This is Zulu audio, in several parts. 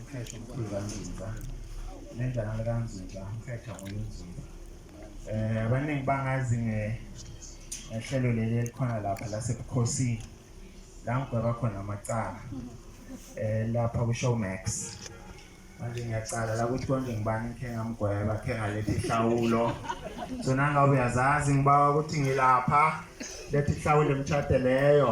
Umkhehlo mkhulu kanzinza nendana likanzinza umkhehlo ngoyinzinza um abaningi bangazi ngehlelo leli elikhona lapha lasebukhosini la ngigweba khona amacala um lapha kushowmax manje ngiyacala la ukuthi konje ngibani ngikhe ngamgweba khe ngalethi ihlawulo so nangabe uyazazi ngibawa ukuthi ngilapha lethi ihlawulo emtshade leyo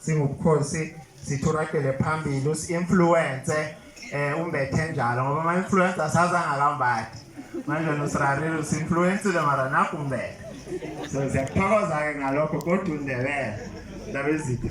Singubukhosi sithuragele phambili usi-influence eh umbethe njalo ngoba ama-influence asazangakambathi manje nosirarile usi-influensile mara nakho umbethe so siyakuthokoza-ke ngalokho kodwa undebele ndaba ezitha